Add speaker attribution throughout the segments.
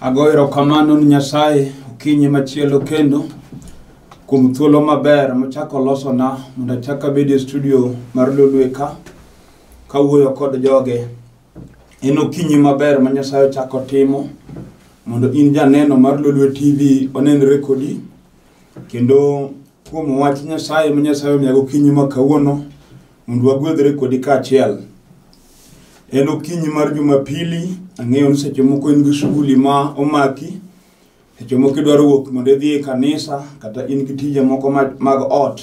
Speaker 1: Agoyo erokamano ni Nyasaye okinyi machielo kendo kuom thuolo maber mochako olosona mondo achak abed e studio mar Lolwe ka kawuoyo kod joge. En okinyi maber ma Nyasaye ochako timo mondo in janeno mar Lolwe TV onenre kodi kendo kuom wach Nyasaye ma Nyasaye omiyago okinyi ma kawuono Mondo wagwedhre kodi kaachiel. En okinyi mar Jumapili, ang'eyo ni seche moko in gi shughuli ma omaki, seche moko idwaro wuok mondo idhi e kanisa kata in gi tije moko ma- mag ot.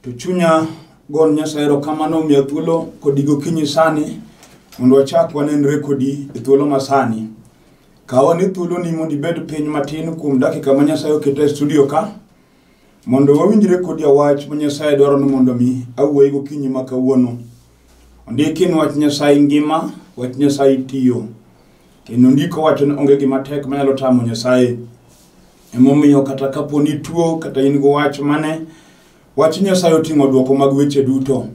Speaker 1: To chunya gon Nyasaye erokamano omiya thuolo kodi gokinyi sani mondo wachak wanenre kodi e thuolo ma sani. Kaw ane thuoloni mondo ibed piny matin kuom dakika ma Nyasaye oketo e studio ka. Mondo wawinjre kodi wach ma Nyasaye dwaro ni mondo mi awuoyi gokinyi ma kawuono. Ondiki ni wach Nyasaye ngima, wach Nyasaye tiyo. Kendo ndiko wacho ni onge gima tek manyalo tamo Nyasaye. Emomiyo kata kapo ni tuo kata in go wach mane, wach Nyasaye oting'o dwoko mag weche duto.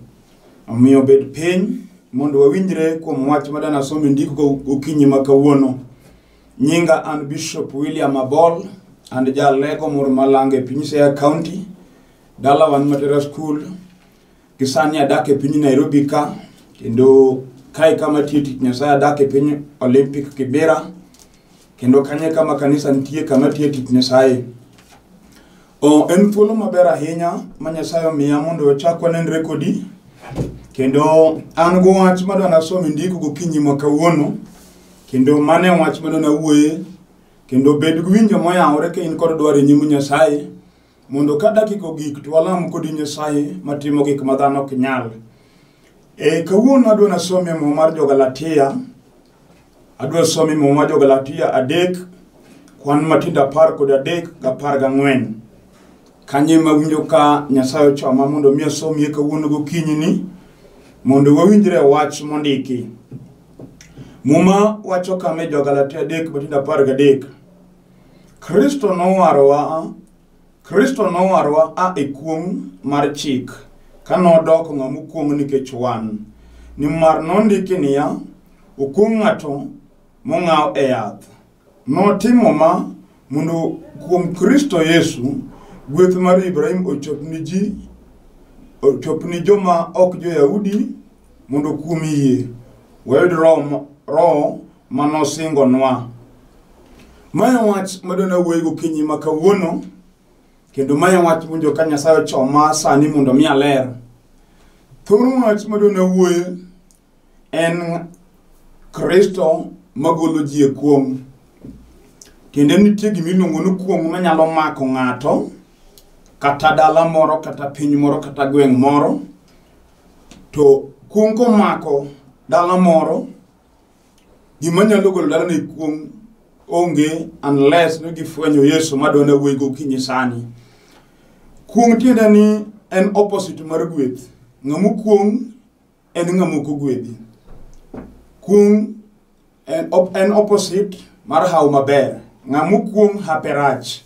Speaker 1: Omiyo bed piny mondo wawinjre kuom wach ma danasom e ndiko gokinyi ma kawuono. Nyinga an Bishop William Abol and jalego moro malango e piny Siaya County. Dala wan Matera School. Gisani adak e piny Nairobi ka kendo kae kama tiyo tich Nyasaye adak e piny Olympic Kibera kendo kanye kama kanisa nitie kama tiyo tich Nyasaye. Oh, en thuolo maber ahinya ma Nyasaye omiya mondo ochak wanenre kodi. Kendo an go wach ma dwa nasom indiko gokinyi ma kawuono. Kendo mane wach ma dwa nawuoye. Kendo bed gi winjo moyawore ka in kod dwaro e nyim Nyasaye. Mondo ka dakika ogik to walam kodi Nyasaye matimo gik ma dhano ok nyal. E kawuono adwa nasom e muma mar jo Galatia Adwa somi muma jo Galatia adek, kwan matindo apar kod adek gi apar gang'wen. Kanye ma winjo ka Nyasaye ochoma mondo mi asomie kawuono gokinyi ni mondo wawinjre e wach mondiki. Muma wacho kama e jo Galatia adek matindo apar gadek. Kristo nowarowa Kristo nowarwa a e kuong' mar chik, ka nodoko ng'ama okuong' nikech wan. Nimar nondiki niya, Okuong' ng'ato mong'aw e yath. Notimo ma mondo kuom Kristo Yesu gweth mar Ibrahim ochop ni ji ochop ni joma ok jo-Yahudi mondo kuom yie wayud roho ma- roho ma nosingonwa. Ma e wach ma dona wuoyi gokinyi ma kawuono, kendo ma e wach winjo ka Nyasaye ochoma sani mondo mi aler. Thor wach ma dona wuoye en Kristo magolo ji e kuong'. Kendo nitie gima iluongo ni kuong' manyalo mako ng'ato, kata dala moro, kata piny moro, kata gweng' moro. To kuong' komako dala moro, Gima nyalo golo dala ni kuong' onge unless ni gifwenyo Yesu ma dwana wuoyi gokinyi sani. Kuong' tiende ni en opposite mar gweth. Ng'ama okuong' en ng'ama ok ogwedhi. Kuong' en, op, en opposite mar hawo maber. Ng'ama okuong' hape rach.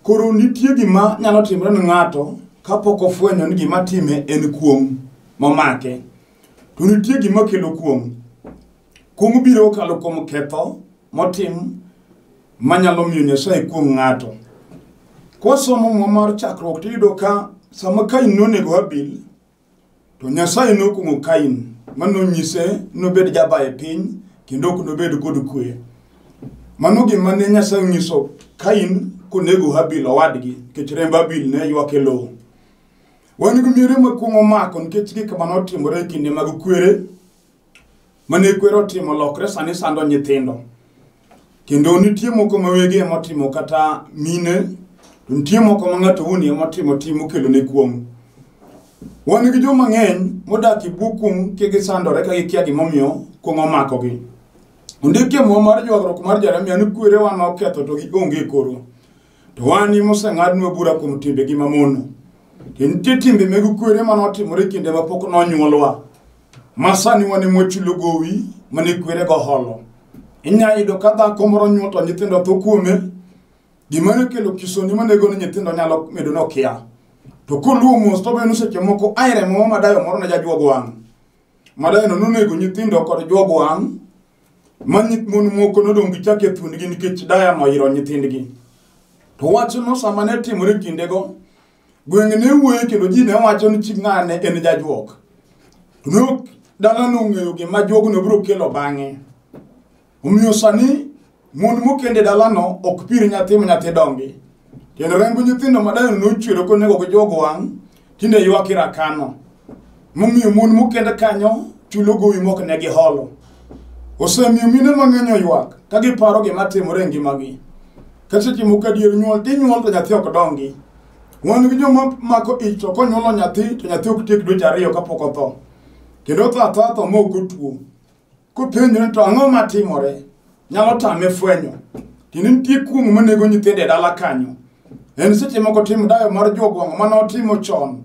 Speaker 1: Koro nitie gima nyalo timore ne ng'ato kapok ofwenyo ni gima time en kuong' momake. To nitie gima kelo kuong'. Kuong' biro kokalo kuom ketho motim manyalo miyo Nyasaye kuong' ng'ato. Kwasomo muma mar chakruok tiyudo ka sama Kain nonego Habil, to Nyasaye nokuong'o Kain ma nonyise nobed jaba e piny kendo ok nobed kod kwe. Mano gima ne Nyasaye onyiso Kain konego Habil owadgi nikech remb Habil ne ywak e lowo. Wan gi miere makwongo mako nikech gik ma notimore e kinde mag kwere mane kwere otimo lokre sani sando nyithindo kendo nitie moko ma wegi emotimo kata mine nitie moko ma ng'ato wuon emotimo tim okelo ne kuong' wan gi jo mang'eny modak e bwo kuong' ka gisandore ka gikia gimomiyo kuong' omakogi ondikie muma mar ywagruok mar jeremia ni kwerewa noketho to gionge koro To wan ni moseng'adnwa bura kuom timbegi mamono. To nitie timbe meg kwere ma notimore kinde ma pok nonyuolwa. Ma sani wan ema wachulo gowi mane kwerego holo. Inyalo yudo ka dhako moro nyuol to nyithindo tho kuome. Gima nokelo kisoni manego ni nyithindo nyalo medo nokia. To koluwo mos to beno seche moko ae remo ma dayo moro ne jajuog wang'. Madayono nonego nyithindo kod juog wang' ma nyith mon moko nodong' gichako e thuondgi nikech daya noyiro nyithindgi to wachno sama ne timore kindego gwenge ne wuoye kendo ji ne wacho ni chi ng'ane en jajuok to ne ok dalano ong'eyo gima juogno biro kelo bang'e omiyo sani Mond mokend e dalano ok pir nyathi ma nyathi dongi, kendo remb nyithindo madongo nochwero konego gi jogo wang' tinde ywak e rakano. Momiyo mon mokend kanyo chulo gowi mok ne giholo. Osemiyo mine mang'eny oywak ka giparo gima timore e ngimagi. Ka seche moko adier nyuol tinyuol to nyathi ok dongi. Wan gi joma mako ich to konyuolo nyathi to nyathi ok tiek dweche ariyo kapok otho. Kendo otho athatha ma ok otuo. Kopenjo ni to ang'o ma timore? Nyalo tame fwenyo. Tiende nitie kuong' ma nego nyithindo e dala kanyo. En seche moko tim dayo mar jogwang' ma notimo chon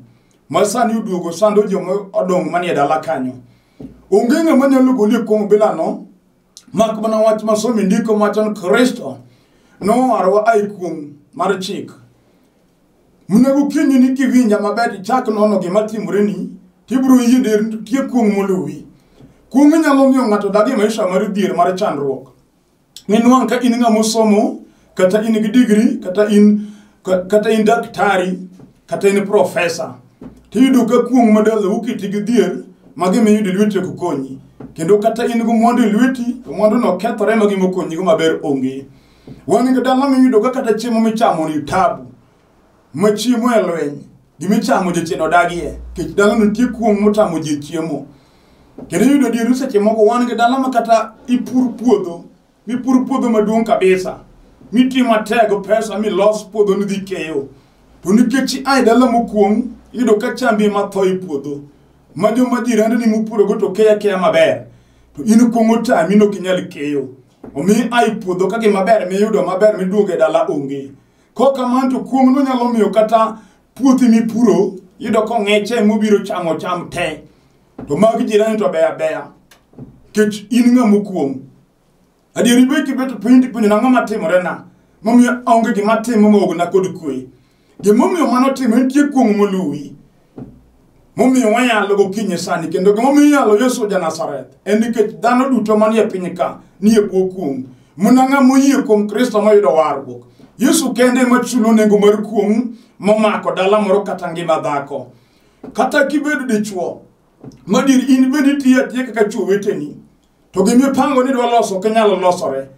Speaker 1: ma sani oduogo sando joma odong' manie dala kanyo. Onge ng'ama nyalo goli e kuong' bilano mak mana wach ma somo e ndiko machon Kristo nowarwa ai kuong' mar chik. Monego kinyi ni kiwinja maber ichak nono gima timoreni, tibiro yie der nitie kuong' molowi. Kuong' nyalo miyo ng'ato dag e maisha mar dhier mar chandruok. Ninwang' ka in ng'ama osomo, kata in gi digri, kata in kata in daktari, kata in profesa. Tiyudo ka kuong' madala ukiti gi dhier, ma gima iyudo e lweti ok konyi. Kendo kata in gi mwandu e lweti, to mwanduno kethore ma gima okonyigo maber onge. Wan gi dala miyudo ka kata chiemo michamo ni tabu. Ma chiemo e lweny. Gimichamo jachien odagie. Kech dala nitie kuong' motamo ji chiemo. Kendo iyudo dieru seche moko wan gi dala ma kata ipur puodho. Mipur puodho maduong' kabisa. Miti matego pesa milos puodho nidhi keyo. To nikech ai dala mokuong' iyudo ka chambi ema tho e puodho. Ma joma jirandeni mupurogo to keyo akeya maber. To in kuong' otami nokinyal keyo. omi ai puodho ka gima ber miyudo maber miduogo e dala onge ko kamano to kuong'no nyalo miyo kata puothi mipuro yudo kong'eche mobiro chamo cham te to mag jirani to beya beya kech in ng'a mokuong' adieri be kibeto piny tipenjo nang'o matimorena momiyo aonge gima timo maogna kod kwe Gimomiyo mano timo en tie kuong' moluwi. Momiyo wanyalo gokinyi sani kendo gimomiyo inyalo Yesu ja Nazareth en nikech dhano duto manie piny ka nie bwo kuong'. Muna ng'a moyie kuom Kristo moyudo warruok. Yesu kende ema chulo nengo mar kuong' momako dala moro kata ngima dhako. Kata kibedo dichwo, madier in bende itiyo atiya kaka chwo weteni. To gima ipango ni dwa loso ok nyalo losore.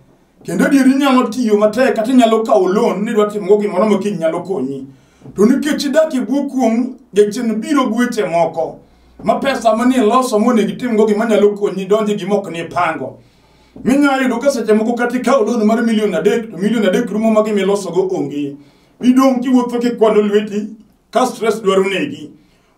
Speaker 1: Kendo adier inyalo tiyo matek kata inyalo kawo loan ni dwa timogo gimoro ma kiny nyalo konyi. To nikech idak e bwo kuong' jachien biro gweche moko ma pesa manie loso monego itimgo gima nyalo konyi donje gima ok nipango. Minyalo yudo ka seche moko kata ikawo loan mar milion adek to milion adek rumo ma gima ilosogo onge. Idong' kiwuotho kikwalo lweti ka stress dwaro negi.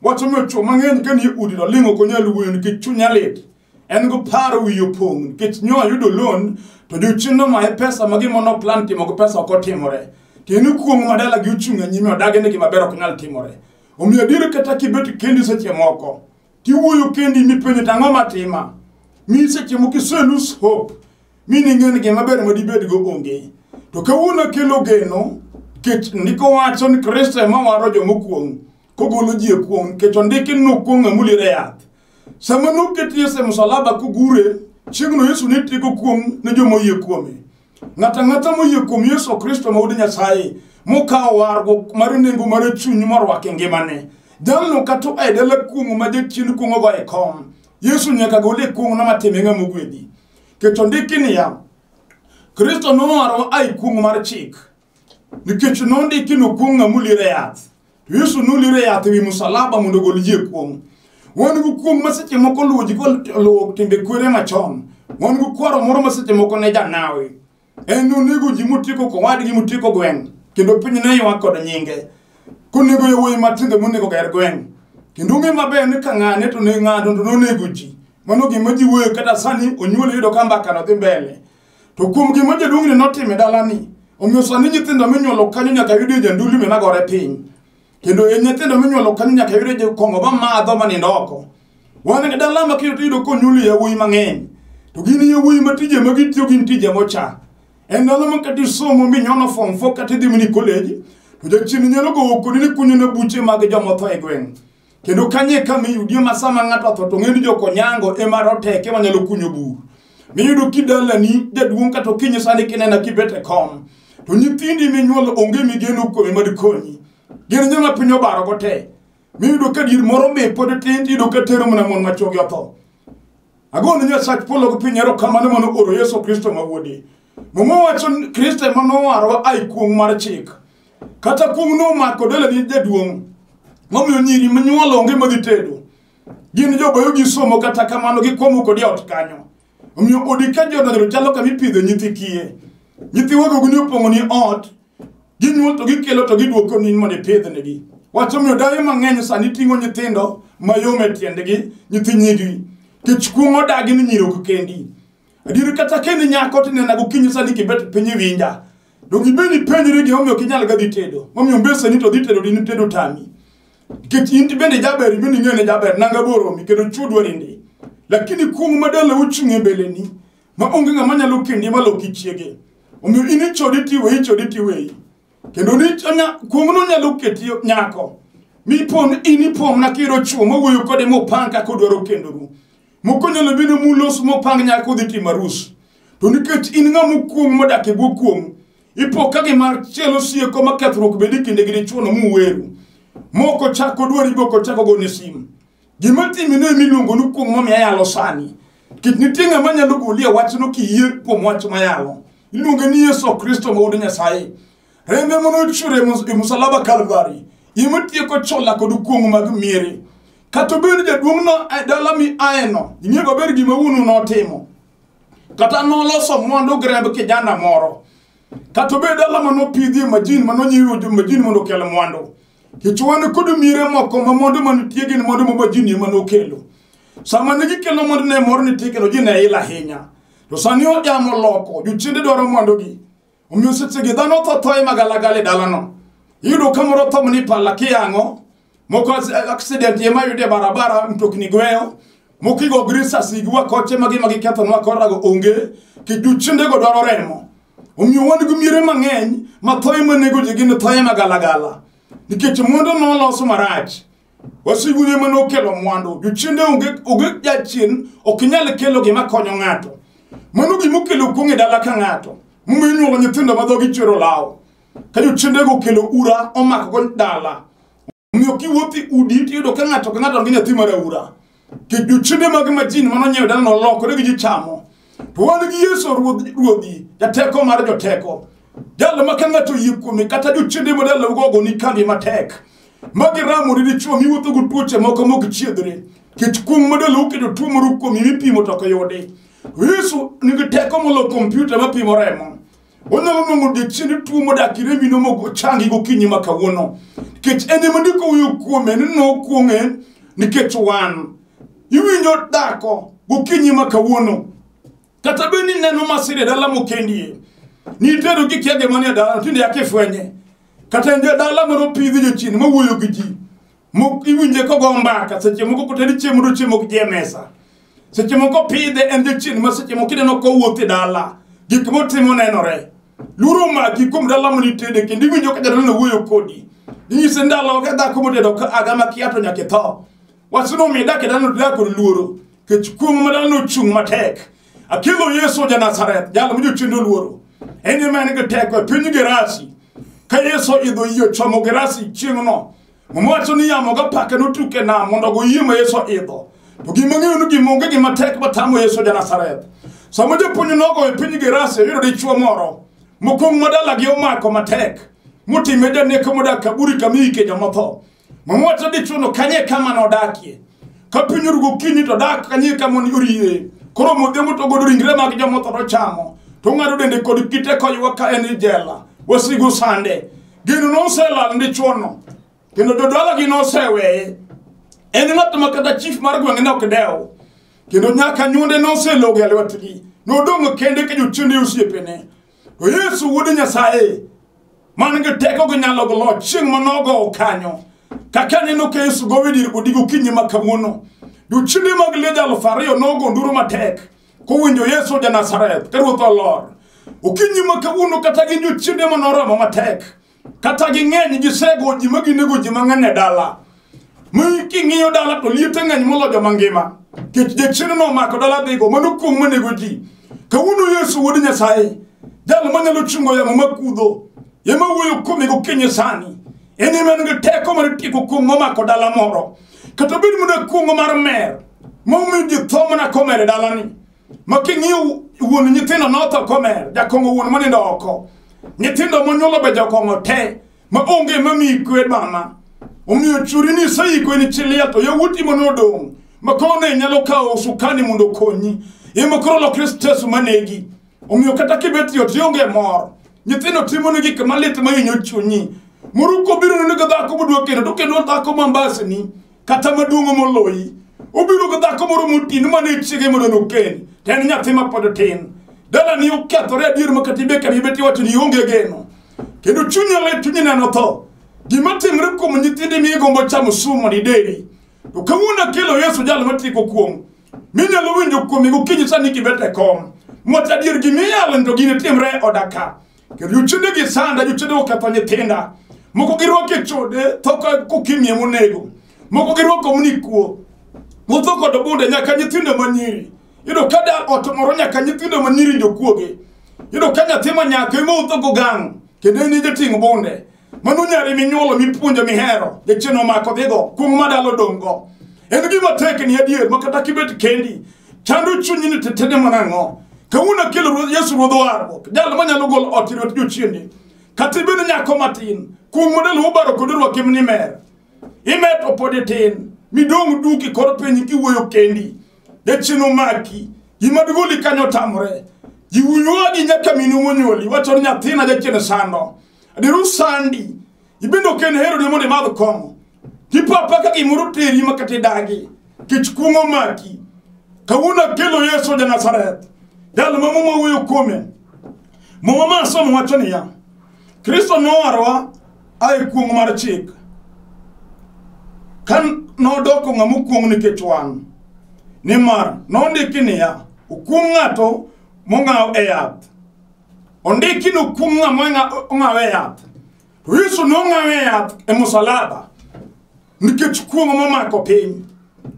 Speaker 1: Wach omiyo chwo mang'eny ka nie udi to ling' ok onyal wuoyo nikech chunya lit. en go paro wiye opong' nikech nyo ayudo loan to jochien nomaye pesa ma gima noplan timo gi pesa ok otimore to en okuong' ma dalagi ochung' e nyime odagi ni gimaber ok nyal timore omiyo adier kata kibet kendi seche moko tiwuoyo kendi mipenjo to ang'o matima mi seche moko iselus hope mi ning'e ni gimaber ma dibedgo onge to kawuono akelo geno nikech ndiko wacho ni kristo ema waro joma okuong' kogolo ji e kuong' nikech ondiki ni nokuong' ng'ama uliero e yath Sama noketi Yesu e msalaba kogure, chieng'no Yesu ne tieko kuong' ne joma oyie kuome. Ng'ato ang'ata moyie kuom Yesu Kristo ma wuod Nyasaye, mokawo warruok mar nengo mar chuny morwako e ngimane. Jalno kata oa e dala kuong'o ma jachien kuong'ogo e kom, Yesu nyaka gole e kuong'no matime ng'ama ogwedhi. Kech ondiki niya, Kristo nowaro a e kuong'o mar chik, nikech nondiki nokuong' ng'a muliere yath to yesu noliere yath ewi musalaba mondo ogol ji e kuong' wan gi kuong' ma seche moko luwo ji koluwo timbe kwere machon wan gi kwaro moro ma seche moko ne janawi en nonego ji motieko kowadgi motieko gweng' kendo piny ne ywak kod nyinge konego yowuoyi matindo monego ger gweng' kendo ong'e maber ni ka ng'ane to ne ng'ato to nonego ji mano gima ji wuoyo kata sani onyuol yudo ka mbakano dhi mbele To kuom gima jaduong'ni notimo e dalani, omiyo sani nyithindo minyuolo kanyo nyaka yudie janduli minagore piny. Kendo e nyithindo minyuolo kanyo nyaka yudie jokong'o mamadho manindo oko. Wan gi dala ma kiyudo iyudo konyuoli yawuoyi mang'eny. To gin yawuoyi ma tije ma gitiyo gin tije mocha. En ndalo ma kata isomo minyono form 4 kata idhi mini college, to jachien nyalo gowo kodi ni kunyone buche mag jomotho e gweng'. kendo kanye ka miyudie ma sama ng'ato otho to ng'eni joko nyango ema roteke manyalo kunyo bur miyudo kidalani jaduong' kata okinyi sani kinena kibet e kom to nyithindi minyuolo onge migeno kuome madikonyi gin nyama piny obarogo te miyudo ka dir moro mi pod tin tiyudo ka tero mana mon machogi otho agone nyasach polo gi piny erokamano mano oro yesu kristo ma wuode Muma wacho ni Kristo ema nowarowa ai kuong' mar chik. Kata kuong' nomako dela ni jaduong'. Momiyo nyiri manyuol onge madhi tedo. Gin jobayo gi somo kata kamano gikomo kodi ot kanyo. Omiyo odi ka jodonjo chalo kama ipidho nyithi kiye. Nyithi wagogo ni opong'o ni ot. Ginyuol to gikelo to giduoko ni mondo ipidhnegi. Wach omiyo dayo mang'eny sani ting'o nyithindo mayom e tiendgi, nyithi nyigi. Kech kuong' odagi ni nyiri ok kendi. Adier kata kendo nyako tinena gokinyi sani kibet piny iwinja. Donge ibed ipenjri gimomiyo ok inyal gadhi tedo? Momiyo mbeseni to dhi tedo dini tedo tami. Nikech in bende jaber ibende ing'eyo ni jaber nanga boromi kendo chudwa ninde. Lakini kuong' ma dala ochung' e mbeleni ma onge ng'ama nyalo kendi ma loki chiege. Omiyo in ichodi tiweyi ichodi tiweyi. kendo ni kuong'no nyalo keti nyako mipon in ipomna kiro chuo mowuoyo kode mopang kaka odwaro kendoru moko nyalo bedo mulos mopang nyaka odhi timo arus to nikech in ng'a mokuong modak e bwo kuong ipo ka gima chielo sieko ma kethruok bedi kinde gi dichuono muweru moko chako dwari boko chako gone simu Gima timino ema iluongonu kuong' momiyo ayalo sani. Kik nitie ng'ama nyalo goli e wachno kiyie kuom wach mayalo. Iluonge ni Yesu Kristo ma wuod Nyasaye. Rembe mane ochwer e mus- e musalaba Kalvari ema tieko chola kod kuong' mag miere. Kata obed jaduong'no e dala mi aeno, ing'e maber gima wuonu notimo. Kata noloso mwandu gi remb kijana moro. Kata obed dala manopidhie majin manonyiewo majin mondo okel mwandu. Kech wan kod mire moko ma mondo manitie gin mondo ma jini ema nokelo. Sama ne gikelo mondo ne mor nitie kendo ji ne il ahinya. To sani ojamo loko, jochiende dwaro mwandugi. Omiyo sechegi dhano tho thoye magalagala e dalano. Iyudo ka moro tho ni pala kiyang'o, moko accident ema yude barabara mtokni gweyo, Mokigo grisa sigwa koche magi magi ketho nwa korago onge kijuchinde go dwaro remo. Omiyo wan gi mire mang'eny ma thoye ma nego ji gin thoye ma galagala. Nikech mwandu no loso marach. Wasigu ne mano kelo mwandu. Juchinde onge onge jachien ok nyal kelo gima konyo ng'ato. Mano gima okelo kuong' e dala ka ng'ato. Mume nyuolo nyithindo ma dhogi chwero lawo. Ka juchinde go kelo ura omako go dala. omiyo kiwuotho e udi tiyudo ka ng'ato ka ng'ato nigi nyathi mar aura jochende mag majini mano nyiewo dala nolokore gi ji chamo to wan gi yesu ruodh- ruodhi jateko mar joteko jalo ma ka ng'ato yie kuome kata jochende ma dalaugo ogoni kambi matek ma giramori dichuo miwuotho gi tuoche moko mok chiedhre kech kuong' ma dalau keto tuo moro kuomi mipimo to ok yudi yesu nigi teko molo kompyuta mapimo remo Onyalo nongo odiechieng' tuo modak iremi no mogo changi gokinyi ma kawuono. Nikech en ema ndiko wuoyo kuome ni nokuong'e nikech wan. Iwinjo dhako gokinyi ma kawuono. Kata bed ni neno masira e dala mokendie. Nitero gi kiage manie dala tinde yake fwenye. Kata en dala moro pidhi jochiende mawuoyo gi ji. Mok iwinje kogo mbaka seche moko kotedi chiemo to chiemo ok ji e mesa. Seche moko pidhe en jachien ma seche moko ineno kowuoth e dala gik motimo nenore. Luoro omaki kuom dala ma nitede kendo iwinjo ka jadala wuoyo kodi. Inyise ndalo ka dhako motedo ka aga ma kia to nyaka itho. Wachno omiyo dak e dala to dak kod luoro kech kuong' ma dala nochung' matek. Akelo Yesu ja Nazareth jal ma jochien oluoro. En ema en gi teko e piny Gerasi. Ka Yesu idho yie chomo Gerasi chieng'no Muma wacho ni yamo gapaka notuk e nam mondo goyie ma Yesu idho. To gima ng'eyo ni gima onge gima tek matamo Yesu ja Nazareth. Sama japuonj nogo e piny Gerasi oyudo dichwo moro mokwong' ma dalagi omako matek motime janeko modak kaburi kama iike jomotho. Muma wacho dichwono kanye kama nodakie. Ka piny orugo kinyi to dak kanye kama oriye. Koro modhiambo to godo ringre mag jomotho to chamo. To ng'ado dende kod kite koywa ka en i jela. Wasigu sande. gino noselal ni chuono kendo jodalagi noseweye en ng'at ma kata chief mar gweng' ne ok dewo kendo nyaka nyuonde noselogo e lwetgi nodong' kende ka jochiende osiepene to yesu wuod nyasaye man gi teko gi nyalo gi loch chieng' manogo kanyo kaka neno ka yesu gowe dir odigo kinyi ma kawuono jochiende mag leja aluf ariyo nogo nduru matek kowinjo yesu ja nazareth ka ruoth olor okinyi ma kawuono kata gi jochiende ma noromo matek kata ging'eny gisego ji ma ginego ji mang'eny e dala mi king'iyo dala to liete ng'eny moloyo joma ngima kech jachiende nomako dala dhigo mano kuong' manego ji kawuono yesu wuod nyasaye jal manyalo chungo yamo makudho ema wuoyo kuome gokinyi sani en ema en gi teko mar tieko kuong' momako dala moro kata bed mana kuong' mar mer momiyo ji tho mana komer e dalani ma king'iyo wuon nyithindo notho komer jakong'o wuon monindo oko nyithindo monyuolo be jokong'o te ma onge mamiyi kwe mama omiyo churi ni iseiko ni chiliel to yawuoti mono odong' ma koro ne nyalo kawo sukani mondo okonyi ema koro lokre stres manegi omiyo kata kibet yot ionge mor nyithindo timoni gik malit mahinyo chunyi moruko biro neno ka dhako modwa kendo to kendo dhako mambasni kata maduong' moloyi obiro gi dhako moro moti ni mane chiege mondo nokendi to en nyathi ma pod tin dalani okethore adier ma kata ibe kamibe tiwacho ni ionge geno kendo chunyi lit chunyi neno tho gima timre kuom nyithindi mi igombo chamo sum mondo ideri to kawuono akelo yesu jal matieko kuom minyalo winjo kuome gokinyi sani kibet e kom moch adier gimiyalo to gini timre e oda ka kendo jochende gi sanda jochende oketho nyithinda moko girwako e chode tho ka kokimie monego moko girwako mnikuo motho kod obunde nyaka nyithindo manyiri yudo ka da ot moro nyaka nyithindo manyiri jokuoge yudo ka nyathi ma nyako ema otho gogang' kendo en e jating' bunde Mano nyari minyuolo mipuonjo mihero, jachien omako dhigo, kuong' ma dalo dong'go. En gima tek ni adier ma kata kibet kendi, chando chunyi ni tetene mana ang'o. Kawuono akelo Ruoth Yesu Ruodh warruok, jal manyalo golo ot e lwet jochiende. Kata ibed nyako matin, kuong' ma dalo obaro kod orwaki ni mer. Imer to pod itin, midong' duk e kor piny kiwuoyo kendi. Jachien omaki, gima digoli kanyo otamore. Jiwuoyo gi nyaka minu monyuoli, wacho ni nyathina jachien sando. adiru sandi ibende ok en hero ne mondo imadh kong'o tipapa ka gimoro teri ma kata idagi kech kuong'o maki kawuono akelo yesu ja nazareth jal ma muma wuoyo kuome muma ma asomo wacho niya kristo nowarwa ae kuong' mar chik ka nodoko ng'ama okuong' nikech wan nimar nondiki niya okuong' ng'ato mong'aw e yath ondiki ni okum ng'ama ng'a- ong'awe yath to yesu nong'awe yath e musalaba nikech kuong'o momako piny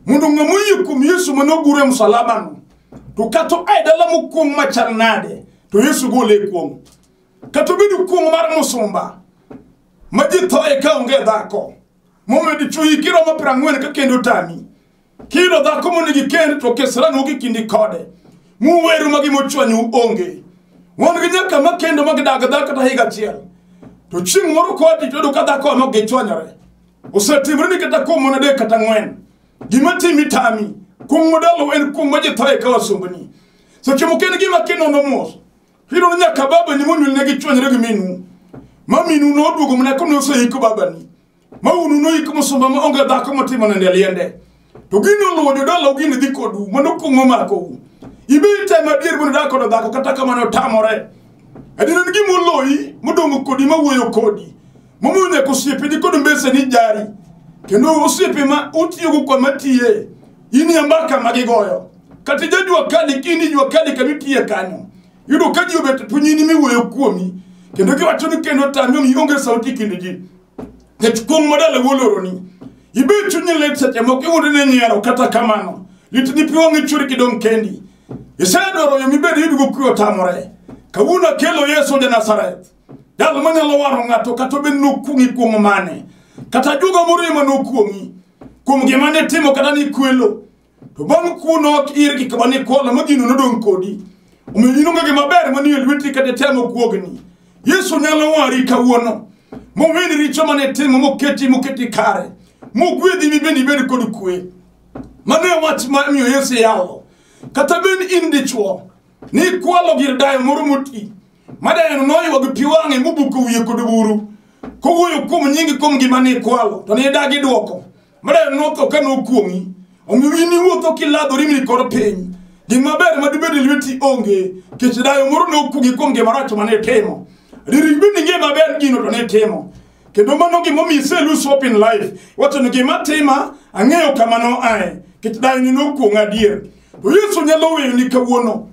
Speaker 1: mondo ng'ama oyie kuom yesu mane ogur e musalabano to kata oa e dala mokuong' machal nade to yesu gole e kuong'o kata obedo kuong'o mar musumba ma ji thoye ka onge dhako momedo chuyi kiromo piero ang'wen ka kendo tami Kino dhako mondo gikend to keseranu gi kindi kode. Muweru magi mochwanyu onge. Wan gi nyaka ma kendo ma gidag dhako kata higa achiel. To chieng' moro kodi to ka dhako no gichwanyore. Osetimre ni kata kuom mana adek kata ng'wen. Gima timi tami. Kuom modalo en kuom ma jithaye ka wasumbni. Seche moko en gima kinono mos. Hiro ni nyaka baba ni monyuol ne gichwanyore gi minu. Ma minu noduogo mana kone oseiko babani. ma unu noik musumba ma onge dhako motimo nende liende to gini oluwo jodala gini dhi kodu mano kuong'o makou ibi itemo adier mondo dak kodo dhako kata kamano otamore adier en gima oloyi modong' kodi ma wuoyo kodi momiyo nyaka osiepe ni kod mbese ni jari kendo osiepe ma utiyogo kwa matiye in ya mbaka ma gigoyo kata ijajua kadi kini jua kadi kama itiye kanyo Yudo ka ji obet punyini miwuoyo kuomi kendo giwacho ni kendo tami omi onge sauti kind ji. Kech kuong' madala woloroni. Ibe chunyi lit seche moko iwuondo ne nyiero kata kamano. Lit ni pi wang'i churi kidong' kendi. Isedwaro yo mibed yudo go kuyo tamore. Kawuono akelo Yesu ja Nazareth. Jal manyalo waro ng'ato kata obed nokuong'i kuong' mane. Kata juga moriema nokuong'i. Kuom gima ne timo kata ni kwelo. to bang' kuno ok irgi kama ni kola ma gino nodong' kodi omiyo in onge gima ber manie lweti kata temo kuogni yesu nyalo wari kawuono moweni richo mane timo moketi moketi kare mogwedhi mibende ibed kod kwe mano e wach ma miyo yesu yalo kata bed in dichwo ni kwalo gir dayo moro moti ma dayono noywa gi pi wang'e mobuko wiye kod buru kowuoyo kuom nyingi kuom gima ni kwalo to ni idagi dwoko Mara notho ka nokuong'i, omiyo in iwuotho kiladhori mi kor piny. Gima ber ma dibed e lweti onge, kech dayo moro nokuong'i kuom gima rach ma ne timo. Ririg bende ing'e maber gino to ne timo. Kendo mano gima omiyo ise lose hope in life. Wacho ni gima tima, ang'eyo kama noae, kech dayo ni nokuong'a adier. To Yesu nyalo weyoni kawuono,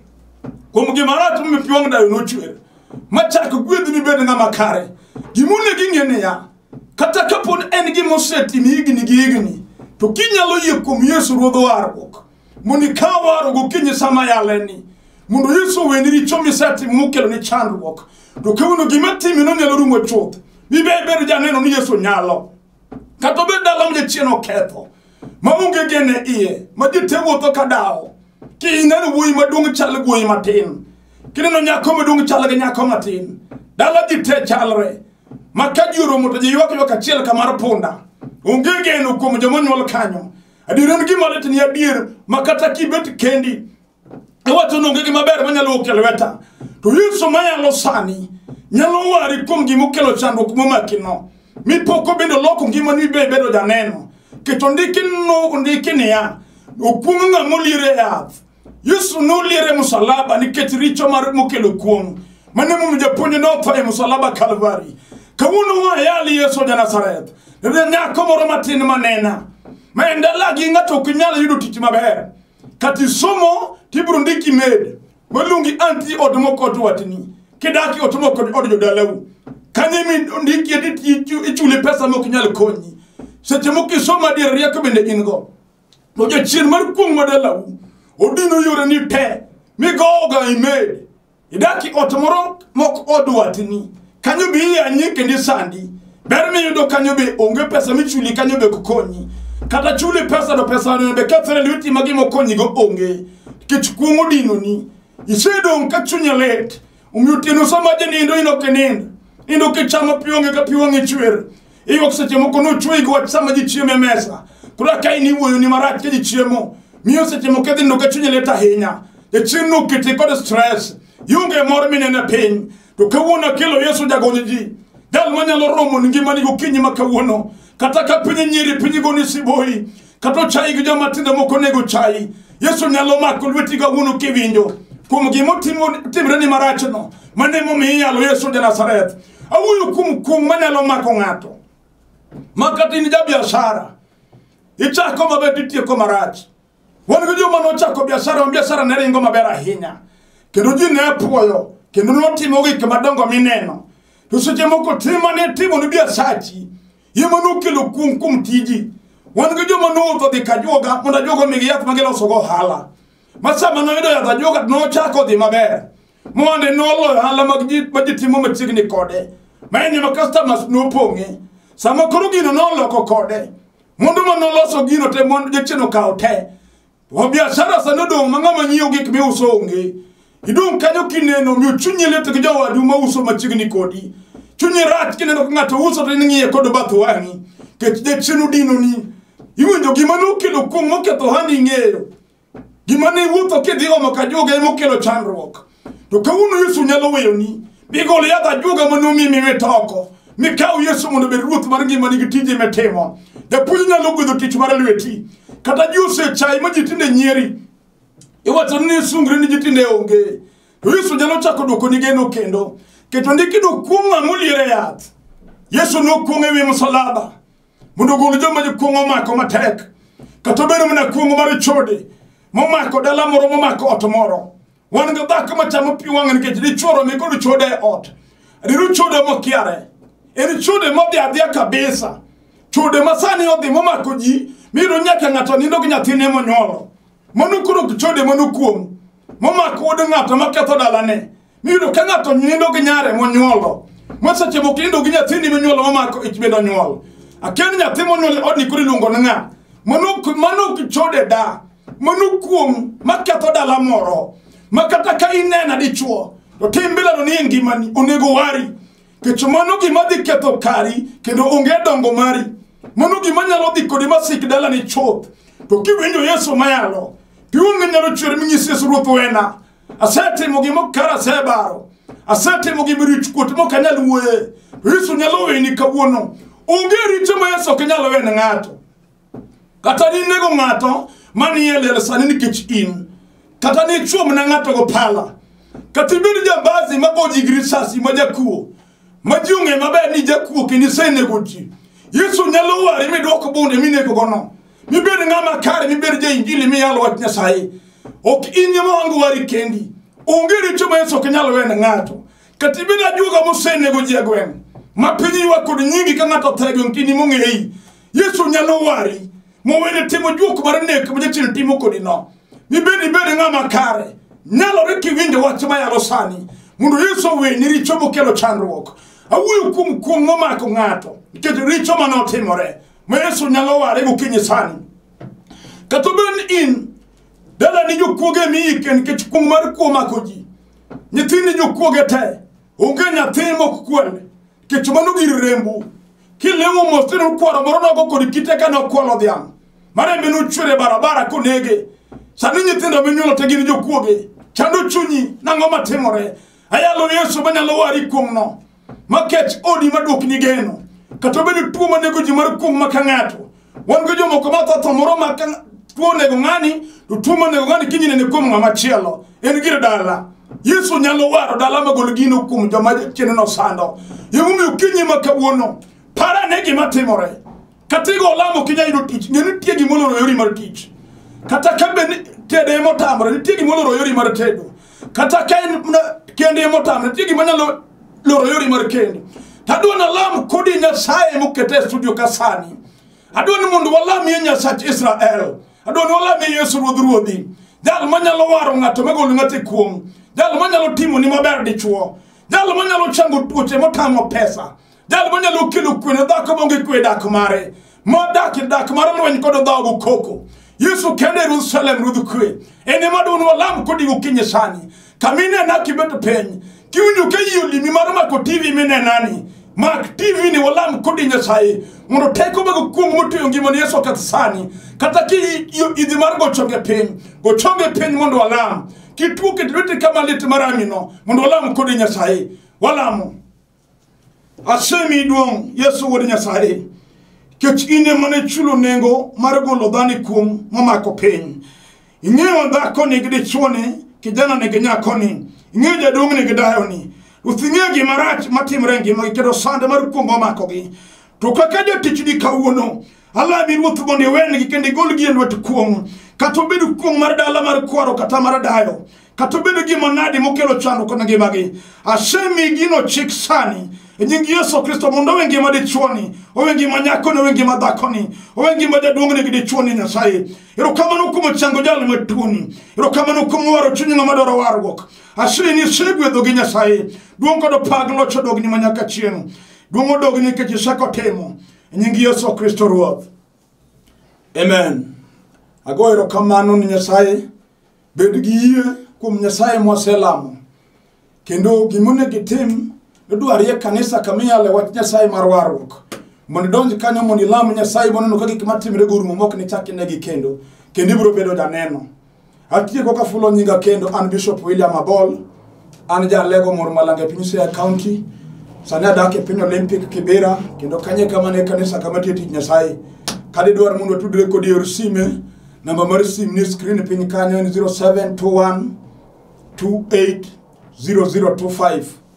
Speaker 1: kuom gima rach ma pi wang' dayo nochwer. Machak gwedhni bed ng'ama kare. Gima onego ing'e niya, kata kapod en gima osetimo higni gi higni to kinyalo yie kuom yesu ruodh warruok mondo ikaw warruok gokinyi sama yaleni mondo yesu oweni richo misetimo mokelo ni chandruok to kawuono gima timi nonyalo rumo chuth mibebedo janeno ni yesu nyalo kata obed dala ma jachien oketho maonge gene iye ma ji te wuotho ka dawo kineno wuoyi maduong' chal gi wuoyi matin kineno nyako maduong' chal gi nyako matin dala ji te chalre ma ka ji oromo to ji ywak ywak achiel ka mar punda onge geno kuom joma onyuol kanyo adier en gima lit ni adier ma kata kibet kendi iwacho ni onge gima ber manyalo wuok e lweta to yesu mayalo sani nyalo wari kuom gima okelo chandruok momakino mipoko bende oloko ngimani ibe ibedo janeno keto ndiki no ndiki niya okuong' ng'ama oliere yath Yesu noliere e musalaba nikech richo mar mokelo kuong' mane momiyo japuonj notho e musalaba Kalvari. Kawuono wayali Yesu ja Nazareth. Nende nyako moro matin manena. Ma en dalagi ng'ato ok nyal yudo tich maber. Kata isomo to ibiro ndiki med. Waluongi anti od moko od watni. Kidaki ot moko od jodalau. Kanye mi ndiki eti ichule pesa mok nyal konyi. Seche moko isomo adier rieko bende in go. to jachien mar kuong' madalau odino yoreni te migowoga imed idaki ot moro mok od watni kanyo be iyanyi kendo isandi ber miyudo kanyo be onge pesa michuli kanyo be kokonyi kata chuli pesa to pesa no be kethre lweti ma gimokonyigo onge nikech kuong' odinoni isedong' ka chunye lit Omiyo otieno sama janindo in ok inind. Nindo kichamo pi onge ka pi wang'e chwer. Iyuok seche moko nochweyi gi wach sama ji chiemo e mesa. Koro ka in iwuoyo ni marach ka ji chiemo. Miyo seche moko idhi nindo ka chunyi lit ahinya. Jachien noketi kod stress. Ionge mor minene piny. To kawuono akelo Yesu jagonyo ji. Jal manyalo romo ni ngimani gokinyi ma kawuono. Kata ka piny nyiri piny goni siboi. kata ochayi gi joma tindo moko onego ochayi yesu nyalo mako lweti kawuono kiwinjo kuom gima otimo- timreni marachno mane momiyo iyalo yesu ja nazareth awuoyo kuom kuong' manyalo mako ng'ato ma kata in jabiashara ichako maber titieko marach wan gi joma nochako biashara ma biashara ne ringo maber ahinya kendo ji ne puoyo kendo notimo gik madongo mineno to seche moko tim mane timo ni biasachi ye ma nokelo kuong' kuom tiji wan gi joma nowuotho dhi ka juoga mondo ajuoga omigi yath ma gilosogo ohala ma sama noyudo yath ajuoga to nochako dhi maber moande noloyo ohala mag ji ma ji timo machiegni kode ma en ema customers nopong'e sama koro gino noloko kode mondo ma noloso gino te mondo jachien okawo te To biashara sani odong' ma ng'ama nyiewo gik miuso onge. Idong' kanyo kineno miyo chunyi lit gi jowadu ma uso machiegni kodi. Chunyi rach kineno ka ng'ato uso to in ng'iye kod bath wang'i. Kech jachien odinoni. Iwinjo gima nokelo kuong' moketho ohandi ing'eyo. Gima ne iwuotho kidhi omo ka joga emokelo chandruok. to kawuono yesu nyalo weyoni migol yath ajuoga manomi miwit oko mikaw yesu mondo obed ruoth mar ngimani gi tije mitimo japuonj nyalo gwedho tich mar lweti kata ji osechayi ma ji tinde nyieri iwacho ni sungre ni ji tinde onge to yesu nyalo chako dwoko ni geno kendo keto ndiki dokuong' ng'a moliere yath yesu nokuong' ewi msalaba mondo ogol joma jokuong' omako matek kata obedo mana kuong' mar chode momako dala moro momako ot moro wan gi dhako machamo pi wang'e nikech dichuoro mi kod chode e ot riru chode mokiare en chode modhi adhiya kabisa chode ma sani odhi momako ji miyudo nyaka ng'ato nindo gi nyathine monyuolo mano koro chode mano kuom momako wuod ng'ato maketho dalane miyudo ka ng'ato nindo gi nyare monyuolo ma seche moko nindo gi nyathini monyuolo momako ich bende onyuol akia ni nyathi monyuol e odni koro iluongo ni ng'a mano mano ok chode da mano kuom maketho dala moro ma kata ka inena dichuo to tim bilano ni e ngimani onego wari kech mano gima dhi ketho kari kendo onge dongo mari mano gima nyalo dhi kodi masik dalani chuth to kiwinjo yesu mayalo piwonge nyalo chwer minyis yesu ruoth wena asetimo gima kara asebaro asetimo gima rich kuot mok anyal wuoye to yesu nyalo weni kawuono onge richo ma yesu ok nyalo wene ng'ato kata ninego ng'ato manie lela sani nikech in kata nichwo mana ng'ato go pala kata ibed jambazi ma go jigi risasi ma jakuo ma ji ong'e maber ni jakuo kendo isenego ji yesu nyalo wari midwoko bunde minegogono mibed ng'ama kare mibed jainjili miyalo wach nyasaye ok in ema wango wari kendi onge richo ma yesu ok nyal wene ng'ato kata ibed ajuoga mosenego ji e gweng' ma piny ywa kod nyingi ka ng'ato othe e gweng' kini mong'eyi yesu nyalo wari mowene timo juok mar nek ma jachien timo kodino mibed ibed ng'ama kare nyalore kiwinjo wach mayalo sani mondo yesu oweni richo mokelo chandruok awuoyo kuom kuong' momako ng'ato nikech richo mane otimore ma yesu nyalo ware gokinyi sani kata obed ni in dalani jokuoge miyike nikech kuong' mar kuo mako ji nyithindi jokuoge te onge nyathi mok kwel Kech mano gir rembu. Kilewo mos tino kwaro moro nogo kod kite ka nokwalo dhiang'. Marembe nochwere barabara konege. Sani nyithindo minyuolo te gin jokuoge. Chando chunyi nang'o matimore. Ayalo Yesu manyalo wari kuom no. Makech odi maduok ni geno. Kata obedo tuo manego ji mar kuong' maka ng'ato. wan go jomoko ma tho tho moro ma ka tuo onego ng'ani to tuo monego ng'ani kiny nene kuom ng'ama chielo en gir dala yesu nyalo waro dala magol gino kuom joma chiene nosando emomiyo kinyi ma kawuono para ne gima timore kata igo olamo kinya yudo tich ng'e nitie gimoloro yori mar tich kata ka be ni- tede emotamore nitie gimoloro yori mar tedo kata ka en mana kende motame nitie gima nyalo loro yori mar kende to adwa ni alam kodi nyasaye mokete e studio ka sani adwa ni mondo walamie nyasach israel adwa ni walamie yesu ruodh ruodhi jal manyalo waro ng'ato magolo ng'ato e kuong jal manyalo timoni maber dichuo jal manyalo chango tuoche motamo pesa jal manyalo kelo kwe ne dhako maonge kwe dak mare modak e dak mar lweny kod dhogo koko yesu kende yerusalem ruodh kwe en ema dun walam kodi gokinyi sani kama inena kibet piny kiwinjo ka yie olimi mar mako tv minenani mak tv ni walam kodi nyasaye mondo teko mago kuong motueyo ngimani yesu oketh sani kata ki idhi mar gochonge piny gochonge piny mondo walam kituo ket lwete kama lit maramino mondo walam kodi nyasaye walamo asemi duong' yesu wuod nyasaye kech in ema ne chulo nengo mar golo dhano e kuong' momako piny ing'eyo dhakoni gi dichuoni kijanani gi nyakoni ing'eyo jaduong'ni gi dayoni ruoth ing'eyo gima rach matimre e ngimagi kendo sand mar kuong' omakogi to kaka jatichni kawuono Alami ruoth mondo iwenegi kendo igolgi e lwet kuong', kata obed kuong' mar dala mar kwaro kata mar dayo, kata obedo gima nadi mokelo chandruok kod ngimagi. Asemi gino chik sani e nying Yesu Kristo mondo owe ngima dichuoni, owe ngima nyakoni, owe ngima dhakoni, owe ngima jaduong'ni gi dichuoni Nyasaye. Erokamano kuom chango jal matuoni. Erokamano kuom waro chuny ng'ama dwaro warruok. Asemi ni isegwedho gi Nyasaye. Duong' kod pak loch odogni ma nyaka chieng'. Duong' odogni nikech isekotimo. E nying Yesu Kristo Ruoth. Amen. Ago erokamano ni Nyasaye. Bed gi yie kuom Nyasaye mwaselamo. Kendo gimonego itim nodwari e kanisa kama iyale wach Nyasaye mar warruok. Mondo idonj kanyo mondo ilam Nyasaye mondo oneno ka gik matimre gorumo mok nichak inegi kendo. Kendo ibiro bedo janeno. Atieko ka fulo nyinga kendo an Bishop William Abol. An ja lego mor malanga e piny Siaya County. Sani adak e piny Olympic Kibera kendo kanye kama ne kanisa kama tie tich Nyasaye. Kadi dwar mondo tudre kodi yor sime. Namba mar sim ni screen piny kanyo en 0721 280025.